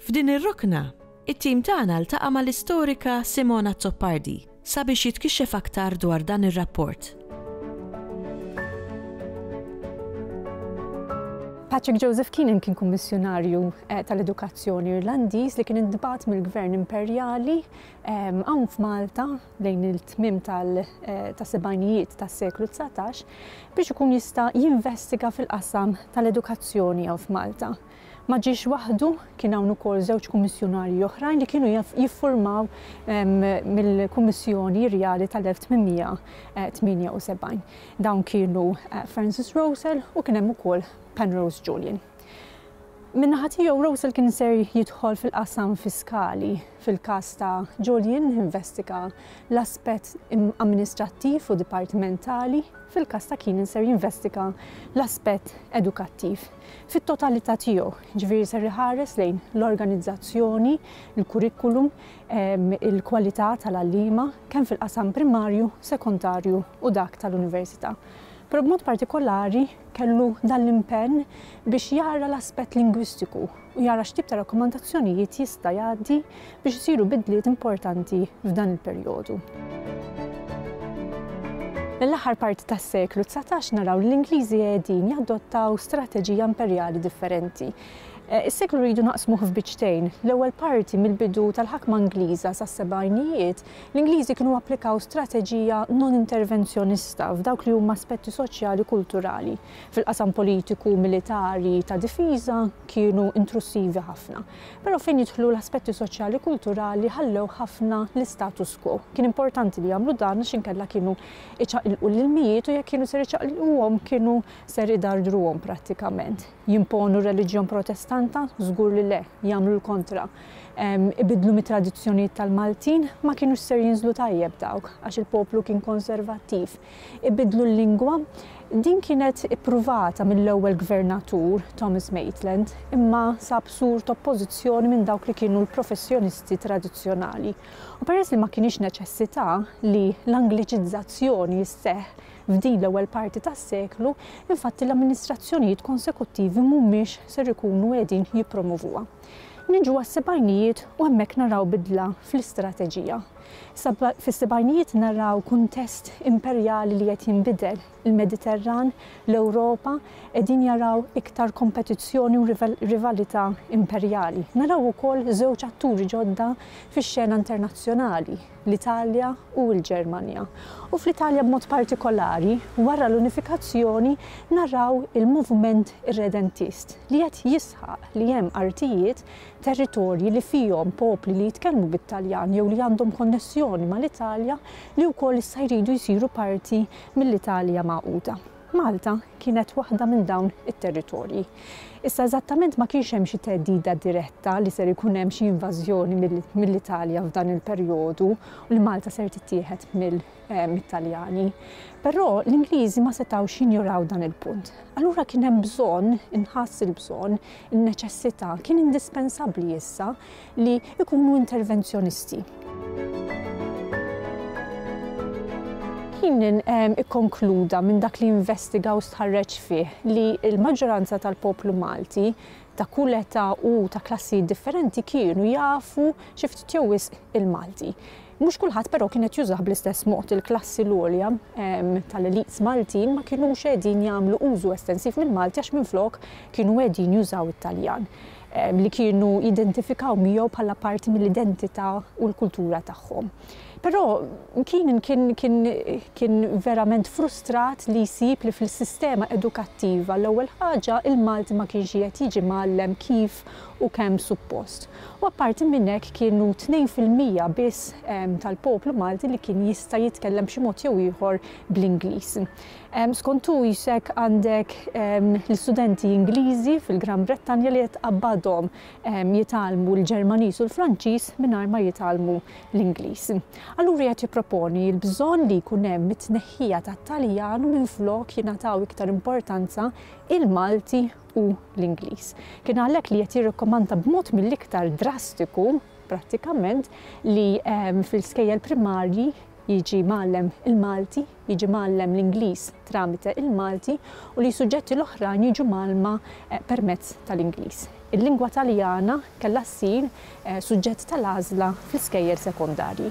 F'din ir-rokna, it-tim tagħna ltaqa' mal-istorika Simone Azzopardi sabiex jitkixxef aktar dwar dan ir-rapport. Patrick Joseph Keenan kien kummissjonarju tal-edukazzjoni Irlandiż li kien intbagħat mill-Gvern Imperjali hawn f'Malta lejn il-tmiem tas-sebgħinijiet tas-seklu 19 biex ikun jista' jinvestiga fil-qasam tal-edukazzjoni hawn f'Malta. Ma ġiex waħdu, kien hawn ukoll żewġ kummissjunarji oħrajn li kienu jiffurmaw mill-Kummissjoni Rjali tal-1878. Dawn kienu Francis Rowsell u kien hemm ukoll Penrose Julian. Min-naħa tiegħu Rowsell kien ser jidħol fil-qasam fiskali. Fil-każ ta' Julian investiga l-aspett amministrattiv u dipartimentali, fil-każ ta' Keenan ser jinvestiga l-aspett edukattiv. fit-totalità tiegħu, jiġifieri ser iħares lejn l-organizzazzjoni, il-kurrikulum, il-kwalità tal-għalliema, kemm fil-qasam primarju, sekondarju u dak tal-università. Però b'mod partikolari kellu dan l-impenn biex jara l-aspett lingwistiku u jara x'tip ta' rakkomandazzjonijiet jista' jgħaddi biex isiru bidliet importanti f'dan il-perjodu. Mill-aħħar parti tas-seklu dsatax naraw li l-Ingliżi qegħdin jadottaw strateġija imperjali differenti. Is-seklu rridu naqsmuh f'biċċtejn. L-ewwel parti mill-bidu tal-ħakma Ingliża sas-sebgħinijiet, l-Ingliżi kienu applikaw strateġija non-intervenzjonista f'dawk li huma aspetti soċjali u kulturali. Fil-qasam politiku, militari, ta' difiża kienu intrussivi ħafna. Però fejn jidħlu l-aspetti soċjali kulturali ħallew ħafna l-istatus quo. Kien importanti li jagħmlu dan għax inkella kienu iċaqilqu l-ilmijiet u jekk kienu ser iċaqilquhom kienu ser idardruhom prattikament. Jimponu r-reliġjon Protestanta? Żgur li le, jagħmlu l-kontra. Ibiddlu mit-tradizzjonijiet tal-Maltin? Ma kinux ser jinżlu tajjeb dawk għax il-poplu kien konservattiv. ibiddlu l-lingwa. Din kienet ippruvata mill-ewwel Gvernatur, Thomas Maitland, imma sab sur t'oppożizzjoni minn dawk li kienu l-professjonisti tradizzjonali. U peress li ma kinitx neċessità li l-Angliċizzazzjoni sseħħ f'din l-ewwel parti tas-seklu, infatti l-amministrazzjonijiet konsekuttivi mhumiex ser ikunu qiegħdin jippromovuha. Niġu għas-sebgħinijiet u hemmhekk naraw bidla fl-istrateġija. Sa fis-sebgħinijiet naraw kuntest imperjali li qed jinbidel, il-Mediterran, l-Ewropa qegħdin jaraw iktar kompetizzjoni u rivalità imperjali. Naraw ukoll żewġ atturi ġodda fix-xena internazzjonali, l-Italja u l-Ġermanja. U fl-Italja b'mod partikolari, wara l-unifikazzjoni naraw il-moviment irredentist li qed jisħaq li hemm artijiet territorji li fihom popli li jitkellmu bit-Taljan jew li għandhom konnessjoni mal-Italja li wkoll issa jridu jsiru parti mill-Italja magħquda. Malta kienet waħda minn dawn it-territorji. Issa eżattament ma kienx hemm xi theddida diretta li ser ikun hemm xi invażjoni mill-Italja f'dan il-perjodu u li Malta ser tittieħed mit-Taljani. Però l-Ingliżi ma setgħux jinjuraw dan il-punt. Allura kien hemm bżonn, inħass il-bżonn, in-neċessità, kien indispensabbli issa li jkunu intervenzjonisti. Keenan ehm, ikkonkluda minn dak li investiga u stħarreġ fih li l-maġġoranza tal-poplu Malti ta' kull età u ta' klassijiet differenti kienu jafu xi ftit jew wisq il-Malti. Mhux kulħadd però kien qed jużah bl-istess mod. Il-klassi l-għolja tal-elites Maltin ma kinux qegħdin jagħmlu użu estensiv mill-Malti għax minflok kienu qegħdin jużaw it-Taljan li kienu jidentifikaw miegħu bħala parti mill-identità u l-kultura tagħhom. Però Keenan kien verament frustrat li jsib li fil-sistema edukattiva l-ewwel ħaġa l-Malti ma kienx qiegħed jiġi mgħallem kif u kemm suppost. U apparti minn hekk kienu tnejn fil-mija biss tal-poplu Malti li kien jista' jitkellem b'xi mod jew ieħor bl-Ingliż. Skont hu isek għandek l-istudenti Ingliżi fil-Gran Brittanja li qed tqabbadhom jitgħallmu l-Ġermaniż u l-Franċiż mingħajr ma jitgħallmu l-Ingliż. Allura qiegħed jipproponi l-bżonn li jkun hemm it-tneħħija tat-Taljan u minflok jingħataw iktar importanza il-Malti u l-Ingliż. Kien għalhekk li qed jirrikkomanda b'mod mill-iktar drastiku prattikament li ehm, fil-skejjel primarji jiġi mgħallem il-Malti jiġi mgħallem l-Ingliż tramite il-Malti u li s-suġġetti l-oħrajn jiġu mgħallma permezz tal-Ingliż. Il-lingwa Taljana kellha ssir suġġett tal-għażla fl-iskejjel sekondarji.